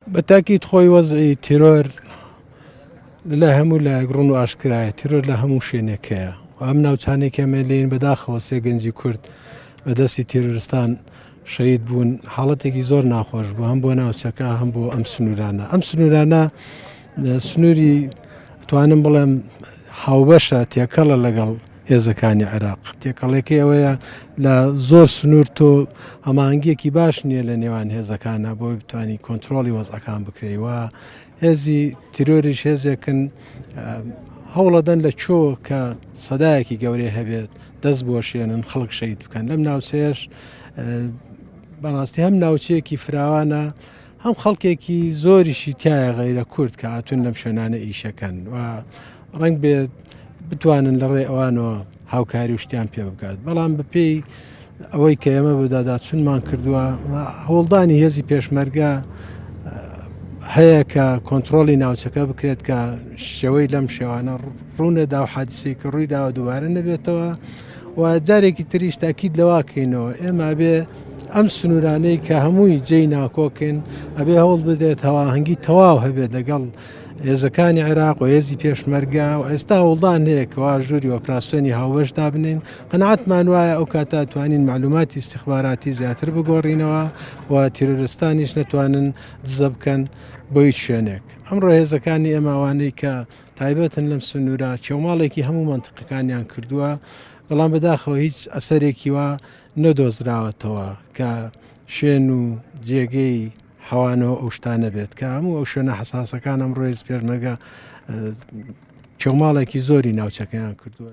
بە تاکید خۆی وەزعی تیرۆر لە هەموو لایەک ڕون و ئاشکرایە تیرۆر لە هەموو شوێنێک هەیە و ئەم ناوچانێک ئەمێ لێن بەداخەوە سێ گەنجی کورد بە دەستی تیرۆرستان شەید بوون حاڵەتێکی زۆر ناخۆش بوو هەم بۆ ناوچەکە هەم بۆ ئەم سنوورانە ئەم سنوورانە سنووری توانم بڵێم هاوبەشە تێکەڵە لەگەڵ هێزەکانی عێراق. تێکەڵەکەی ئەوەیە لە زۆر سنوور تۆ هەماهەنگیەکی باش نییە لە نێوان هێزەکانە بۆی بتانی کۆنتترۆلی وەزعەکان بکرێی وە هێزی تیرۆریش هێزێکن هەوڵەدەن لە چۆ کە سەدایەکی گەورەی هەبێت دەست بۆشێنن خەڵک شەید بکەن لەم ناوچەیەش بەڕاستی هەم ناوچەیەکی فراوانە هەم خەڵکێکی زۆریشی تایە غەیرە کورد کە هاتوون لەم شوێنانە ئیشەکەن و ڕنگ بێت بتوانن لە ڕێ ئەوانەوە هاوکاری و شتیان پێ بکات بەڵام بەپێی ئەوەی کە ئێمە بەداداچونمان کردووە هەوڵدانی هێزی پێشمەرگە هەیە کە کۆنتترۆلی ناوچەکە بکرێت کە شێوەی لەم شێوانە ڕوونەدا و حادسێکی ڕوویداوە دووبارە نەبێتەوە و جارێکی تریش تاکید لەوە کەینەوە ئێمە ئەبێ ئەم سنوورانەی کە هەمووی جێی ناکۆکن ئەبێ هەوڵ بدرێت هەواهەنگی تەواو هەبێت لەگەڵ هێزەکانی عێراق و هێزی پێشمەرگا و ئێستا وڵدان هەیەکەوە ژووری ئۆپراسسیۆنی هاوبەش دابنین قەنعاتمان وایە ئەو کاتا توانین معلوماتی استخباراتی زیاتر بگۆڕینەوە و تیرۆرستانیش نەتوانن دزە بکەن بۆ هیچ شوێنێک ئەمڕۆ هێزەکانی ئێماوانەی کە تایبەتن لەم سنوورە چێوماڵێکی هەموو مەنتقەکانیان کردووە، بەڵام بەداخەوە هیچ ئەسەرێکی وا نەدۆزراوەتەوە کە شوێن و جێگەی حەوانەوە ئەو شتانە بێت کە هەموو ئەو شوێنە حساسەکان ئەم ڕۆێز پێرمەگە چێوماڵێکی زۆری ناوچەکەیان کردووە.